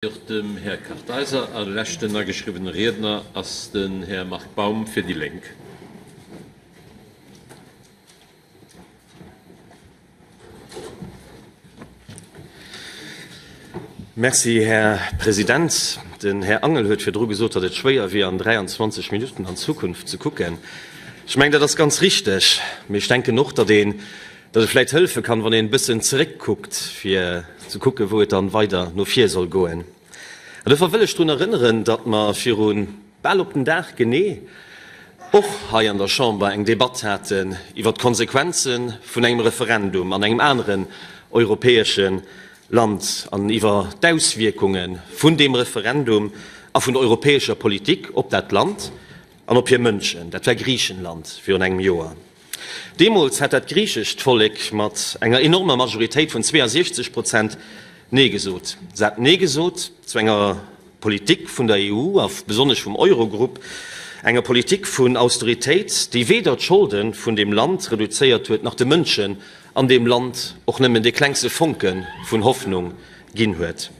Och dem Här Kartheiser a leschten ageschriwwene Riedner ass den Här Marc Baum fir déi Lénk. Merci, Här President. Den Här Angel huet virdru gesot, datt et schwéier wier, an 23 Minutten an d'Zukunft ze kucken. Ech mengen, dat ass ganz richteg. Mee ech denken och, datt ee Dass et vläit hëlfe kann, wann een e bëssen zeréckkuckt, fir ze kucken, wou et dann weider no vir soll goen. An duerfir wëll ech drun erënneren, datt mer viru bal op den Dag genee och hei an der Chamber eng Debatt haten iwwert d'Konsequenze vun engem Referendum an engem aneren europäesche Land an iwwer d'Auswierkunge vun deem Referendum a vun der europäescher Politik op dat Land an op hir Mënschen. Dat war Griichenland virun engem Joer. Deemools hat dat griichescht Vollek mat enger enormer Majoritéit vun 62 Prozent Nee gesot. Se hat Nee gesot zu enger Politik vun der EU a besonnesch vum Eurogrupp, enger Politik vun Austeritéit, déi weder d'Scholde vun deem Land reduzéiert huet, nach de Mënschen an deem Land och nëmmen dee klengste Fonke vun Hoffnung ginn huet.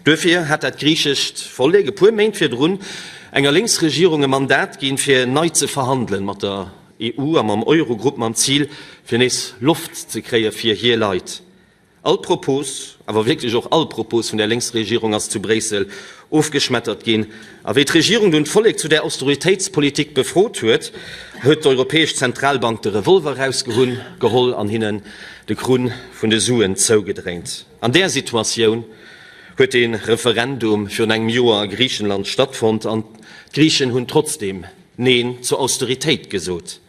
Duerfir hat dat griichescht Vollek e puer Méint virdrun enger Lénksregierung e Mandat ginn, fir nei ze verhandelen mat der EU a mam Eurogrupp mam Zil, fir nees Loft ze kréie fir hir Leit. All Propos, awer wierklech och all Propos vun där Lénksregierung ass zu Bréissel ofgeschmettert ginn. A wéi d'Regierung dunn d'Vollek zu där Austeritéitspolitik befrot huet, huet d'Europäesch Zentralbank de Revolver erausgeholl an hinnen de Krunn vun de Suen zougedréint. An där Situatioun huet dee Referendum virun engem Joer a Griichenland stattfonnt an d'Griichen hunn trotzdeem Neen zur Austeritéit gesot.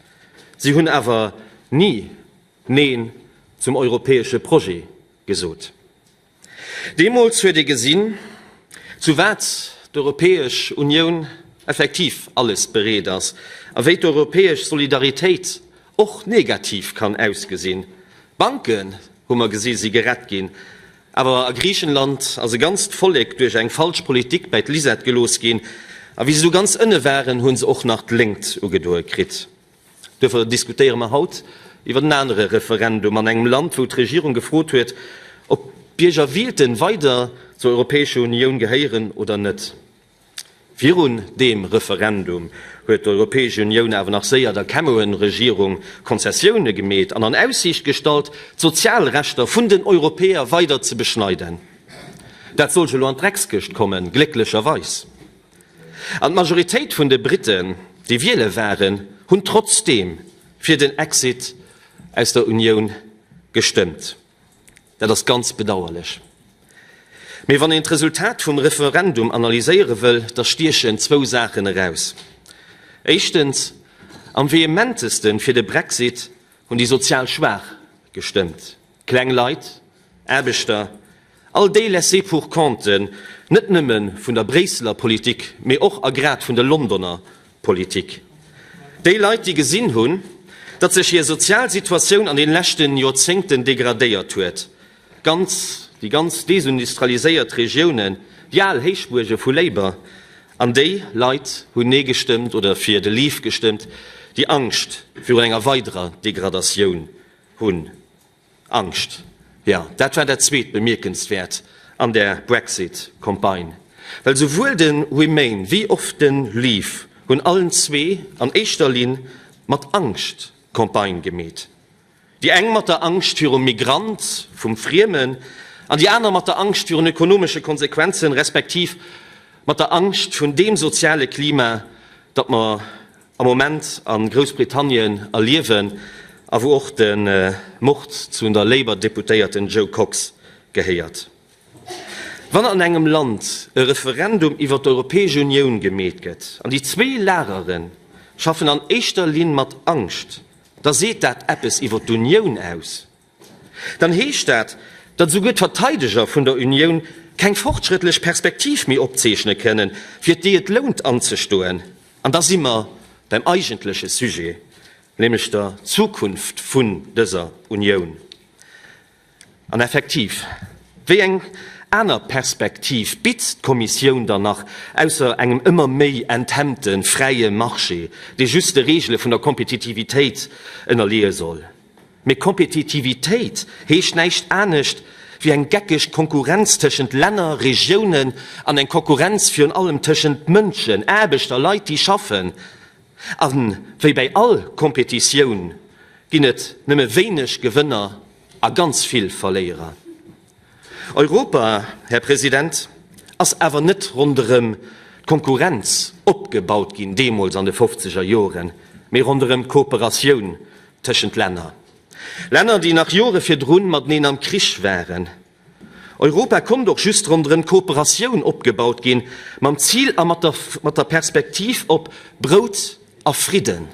Si hunn awer ni Neen zum europäesche Projet gesot. Deemools huet ee gesinn, zu wat d'Europäesch Unioun effektiv alles bereet ass a wéi d'europäesch Solidaritéit och negativ kann ausgesinn. D'Banken, hu mer gesi si gerett ginn. Awer a Griichenland ass e ganzt Vollek duerch eng falsch Politik bäi d'Lisette gelooss ginn, a wéi se du ganz ënne waren, hunn se och nach d'Lénkt ugedoe kritt. Duerfir diskutéiere mer haut iwwer en anere Referendum an engem Land, wou d'Regierung gefrot huet, ob d'Bierger wielten, weider zur Europäescher Unioun gehéieren oder net. Virun deem Referendum huet d'Europäesch Unioun awer nach séier der Cameron-Regierung Konzessioune gemeet an an Aussiicht gestallt, d'Sozialrechter vun den Europäer weider ze beschneiden. Dat sollt elo an d'Dreckskëscht kommen, glécklecherweis. An d'Majoritéit vun de Briten, déi wiele waren, hunn trotzdeem fir den Exit aus der Unioun gestëmmt. Dat ass ganz bedauerlech. Mee wann een d'Resultat vum Referendum analyséiere wëll, da stiechen zwou Saachen eraus. Éischtens, Am vehementeste fir de Brexit hunn déi sozial Schwaach gestëmmt, kleng Leit, Aarbechter, all déi Laissés-pour-compten, net nëmme vun der Bréisseler Politik, mee och a grad vun de Londoner Politik. Déi Leit, déi gesinn hunn, datt sech hir sozial Situatioun an den leschten Joerzéngten degradéiert huet, ganz, déi ganz desindustrialiséiert Regiounen, déi al Héichbuerge vu Labour, an déi Leit hunn Nee gestëmmt oder fir de Leave gestëmmt, déi Angscht virun enger weiderer Degradatioun hunn. Angscht, jo, dat war dat zweet bemierkenswäert an der Brexit-Campagne, well souwuel de Remain wéi och de Leave hunn allen zwee an éischter Linn mat Angscht Campagne gemeet. Déi eng mat der Angscht virum Migrant, vum Friemen, an déi aner mat der Angscht virun ökonomesche Konsequenzen, respektiv mat der Angscht vun deem soziale Klima, dat mer am Moment a Groussbritannien erliewen a wou och de Mord zu der Labour-Deputéierten Jo Cox gehéiert. Wann an engem Land e Referendum iwwer d'Europäesch Unioun gemeet gëtt an déi zwee Lagere schaffen an éischter Linn mat Angscht, da seet dat eppes iwwer d'Unioun aus. Dann heescht dat, datt esouguer d'Verteideger vun der Unioun keng fortschrëttlech Perspektiv méi opzeechne kënnen, fir déi et lount anzestoen. An da si mer beim eigentleche Sujet, nämlech der Zukunft vun dëser Unioun. An effektiv, wéi eng aner Perspektiv bitt d'Kommissioun dann nach, ausser engem ëmmer méi enthemmte fräie Marché, dee just de Reegele vun der Kompetitivitéit ënnerleeë soll? Mee Kompetitivitéit heescht näischt anescht wéi eng geckeg Konkurrenz tëschent Länner, Regiounen an eng Konkurrenz virun allem tëschent Mënschen, Aarbechter, Leit déi schaffen. A wéi bäi all Kompetitioun ginn et nëmme wéineg Gewënner a ganz vill Verléierer. Europa, Här President, ass awer net ronderëm d'Konkurrenz opgebaut ginn, deemools an de fofzeger Joren, mee ronderëm d'Kooperatioun tëschent Länner. Länner, déi nach Jore virdrun mateneen am Krich waren. Europa konnt och just ronderëm d'Kooperatioun opgebaut ginn, mam Zil a mat der Perspektiv op Brout a Fridden,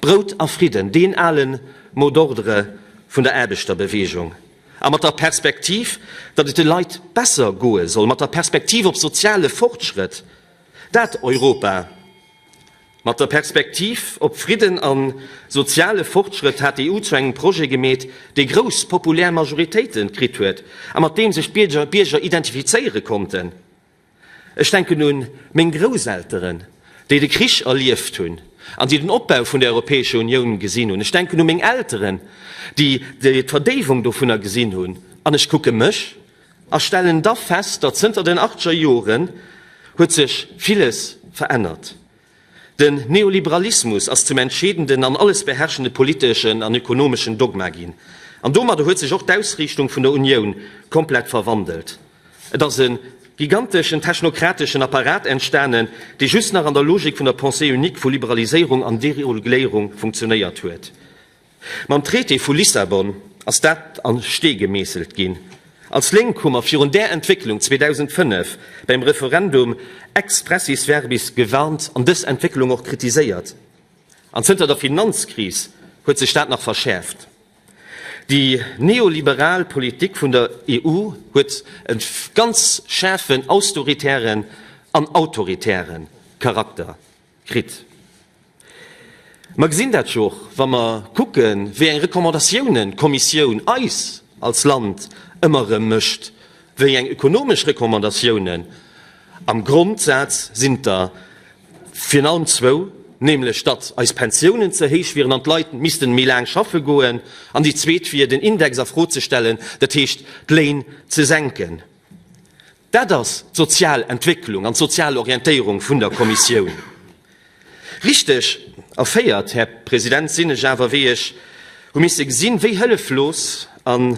Brout a Fridden, deen ale Mot d'ordre vun der Aarbechterbeweegung. a mat der Perspektiv, datt et de Leit besser goe soll, mat der Perspektiv op soziale Fortschrëtt, dat Europa mat der Perspektiv op Fridden a soziale Fortschrëtt hat d'EU zu engem Projet gemeet, dee grouss populär Majoritéite kritt huet a mat deem sech d'Bierger identifizéiere konnten. Ech denken un meng Grousselteren, déi de Krich erlieft hunn an déi den Opbau vun der Europäescher Unioun gesinn hunn. Ech denken u meng Elteren, déi d'Verdéiwung dovunner gesinn hunn. An ech kucke mech a stellen da fest, datt zënter den achtzeger Joren huet sech villes verännert. Den Neoliberalismus ass zum entscheedenden an alles beherrschende politeschen an ökonomeschen Dogma ginn. An domadder huet sech och d'Ausriichtung vun der Unioun komplett verwandelt. Et ass e giganteschen technokrateschen Apparat entstanen, dee just nach an der Logik vun der Pensée unique vu Liberaliséierung an Deregléierung funktionéiert huet. Mam Traité vu Lissabon ass dat a Stee gemeesselt ginn. Als Lénk hu mer virun där Entwécklung 2005 beim Referendum expressis verbis gewarnt an dës Entwécklung och kritiséiert. An zënter der Finanzkris huet sech dat nach verschäerft. Déi neoliberal Politik vun der EU huet e ganz schaarfen austoritären an autoritäre Charakter. kritt. Mer gesinn dat jo och, wa mer kucken, wéi eng Recommandatiounen d'Kommissioun eis als Land ëmmer erëm mécht, wéi eng ökonomesch Recommandatiounen. Am Grondsaz sinn et der virun allem zwou, nämlech datt eis Pensiounen ze héich wieren an d'Leit misste méi laang schaffe goen, an déi zweet wier, den Index a Fro ze stellen, dat heescht, d'Léin ze senken. Dat ass d'sozial Entwécklung an d'sozial Orientéierung vun der Kommissioun. Richteg erféiert, Här President, sinn ech awer, wéi ech hu misse gesinn, wéi hëlleflos an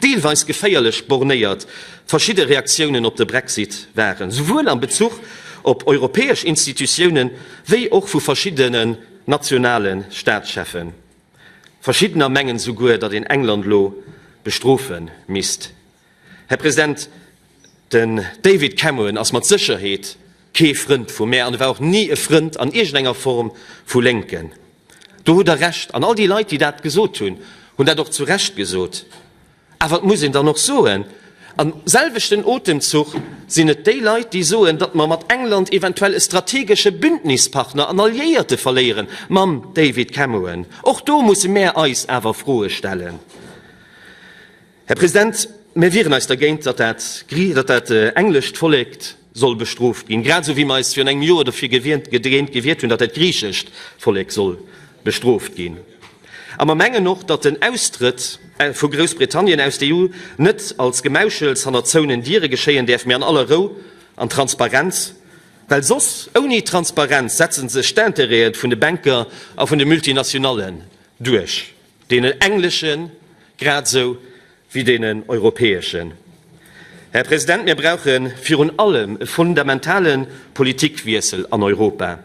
deelweis geféierlech bornéiert verschidde Reaktiounen op de Brexit waren, esouwuel am Bezuch op europäesch Institutiounen wéi och vu verschiddenen nationale Staatschefen. Verschiddener mengen esouguer, datt een England elo bestrofe misst. Här President, den David Cameron ass mat Sécherheet kee Frënd vu mär an e war och ni e Frënd an iergendenger Form vu Lénken. Do hutt Der Recht. An all déi Leit, déi dat gesot hunn, hunn dat och zu Recht gesot. Awer et muss een dann och soen, am selwechten Otemzuch sinn et déi Leit, déi soen, datt mer mat England eventuell e strategesche Bündnispartner an Alliéierte verléieren, mam David Cameron. Och do musse mär eis awer Froe stellen. Här President, mir wieren eis dergéint, datt dat Gri, datt dat englescht Vollek soll bestrooft ginn, grad esou wéi mir eis virun engem Joer derfir gewiernt, dergéint gewiert hunn, datt dat griichescht Vollek soll bestrooft ginn. A mer mengen och, datt den Austrëtt vu Groussbritannien aus der EU net als Gemauschels hanner zouenen Diere geschéien däerf, mee an aller Rou an Transparenz, well soss, ouni Transparenz, setze sech d'Intérêten vun de Banker a vun de Multinationallen duerch. Deenen engleschen grad esou wéi deenen europäeschen. Här President, mir brauche virun allem e fundamentale Politikwiessel an Europa,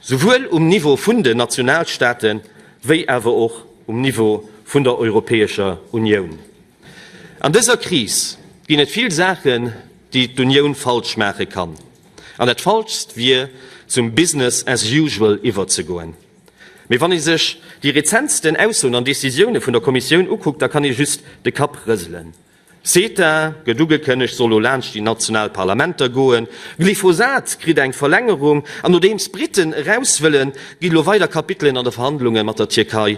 souwuel um Niveau vun den Nationalstaate wéi awer och um Niveau vun der Europäescher Unioun. An dëser Kris ginn et vill Saachen, déi d'Unioun falsch maache kann, an dat Falschst wier, zum Business as usual iwwerzegoen. Mee wann ee sech déi rezentsten Aussoen an Decisioune vun der Kommissioun ukuckt, da kann ee just de Kapp rëselen. CETA gëtt ugekënnegt, soll lo laanscht déi national Parlamenter goen. Glyphosat kritt eng Verlängerung. An nodeems d'Briten eraus wëllen, gi lo weider Kapitelen an de Verhandlunge mat der Tierkei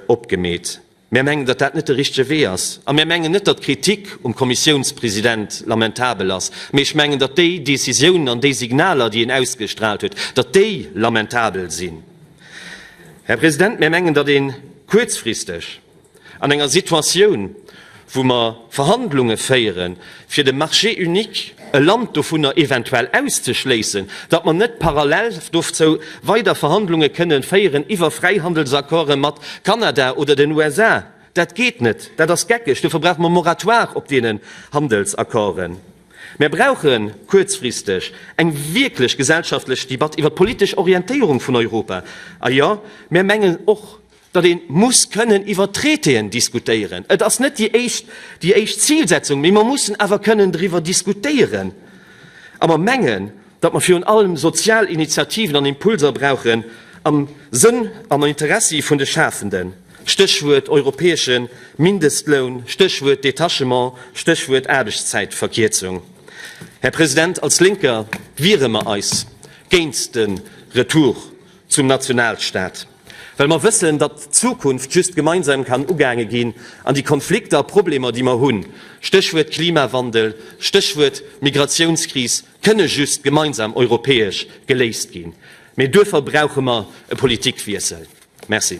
opgemeet. Mär mengen, datt dat net de richtege Wee ass. A mär mengen net, datt d'Kritik um Kommissiounspresident lamentabel ass. Mee ech mengen, datt déi Décisiounen an déi Signaler, déi een ausgestrahlt huet, datt déi lamentabel sinn. Här President, mär mengen, datt ee kuerzfristeg an enger Situatioun, wou mer Verhandlunge féieren, fir de Marché unique, e Land dovunner eventuell auszeschléissen, datt mer net parallel dozou weider Verhandlunge kënnen féieren iwwer Fräihandelsaccorde mat Kanada oder den USA. Dat geet net, dat ass geckeg. Dofir brauche mer e Moratoire op deene Handelsaccorden. Mer brauche kuerzfristeg eng wierklech gesellschaftlech Debatt iwwer d'politesch Orientéierung vun Europa. A jo, mer mengen och, datt ee muss kënnen iwwer Traitéen diskutéieren, et ass net déi éischt déi éischt Zilsetzung, mee mer mussen awer kënnen driwwer diskutéieren a mer mengen, datt mer virun allem sozial Initiativen an Impulser brauchen am Sënn an am Interessi vun de Schafenden, Stéchwuert europäesche Mindestloun, Stéchwuert Detachement, Stéchwuert Aarbechtszäitverkierzung. Här President, als Lénker wiere mer eis géint de Retour. zum Nationalstaat, well mer wëssen, datt d'Zukunft just gemeinsam kann ugaange ginn an déi Konflikter a Problemer, déi mer hunn, Stéchwuert Klimawandel, Stéchwuert Migratiounskris, kënne just gemeinsam europäesch geléist ginn. Mee duerfir brauche mer e Politikwiessel. Merci.